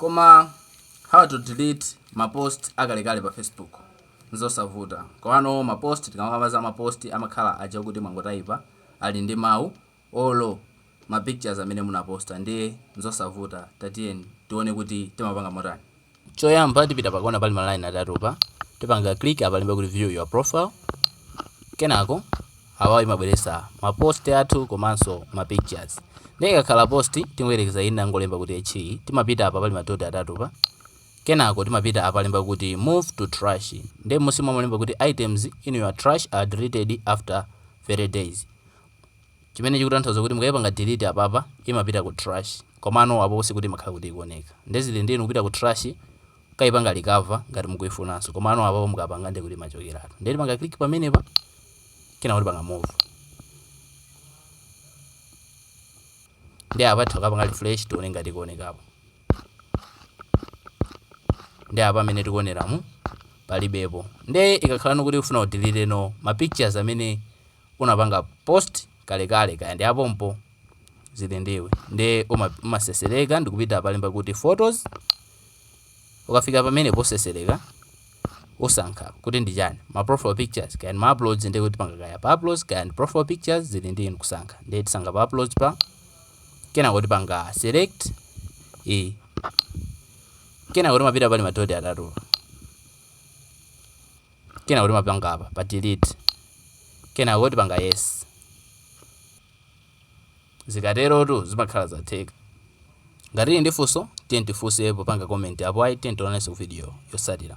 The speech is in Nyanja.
Koma how to delete ma post akalekale pa Facebook? Nzosavuta. Komano ma post tikamakamba za ma post amakhala aja okuti mwangotaipa ali ndi mau olo ma pictures amene munaposta ndiye nzosavuta tatiyeni tione kuti timapanga motani. choyamba tipita pakona pali ma line atatu pa tipanga click apa alemba kuti view your profile kenako awa imabweretsa ma post athu komanso ma pictures ndiye ikakhala post tingoyerekeza ine ndangolemba kuti echi timapita apa pali madoti atatu pa kenako timapita apa alemba kuti move to trash ndiye munsimo alemba kuti items in your trash are deleted after 30 days chimene chikutanthauza kuti mukaipanga delete apapa imapita ku trash komano apo sikuti imakhala kuti ikuoneka nde zili ndi inu kupita ku trash kukaipanga recover ngati mukuifunanso komano apapa mukapanga ndi kuti imachokeratu nde tipanga click pamenepa kenako tipanga move ndi apa tikapanga refresh tione ngati ikuonekapo ndi apa mmene tikuoneramu palibepo nde ikakhala ndikuti ufuna udeleteno ma pictures amene unapanga post kalekale kaya ndi apompo zili ndiwe nde umatsetsereka ndikupita palemba kuti photos ukafika pamene potsetsereka usankha kuti ndi chani ma profile pictures kaya ma uploads ndi kuti panga kaya pa uploads kaya ndi profile pictures zili ndi inu kusankha ndi tisankha pa uploads pa kenako tipanga select e kenako timapita pali madoti atatu kenako timapanga apa pa delete kenako tipanga yes zikaterotu zimakhala zatheka ngati muli ndi funso tiyeni tifunse popanga comment apo ayi tiyeni tionanenso ku video yotsatira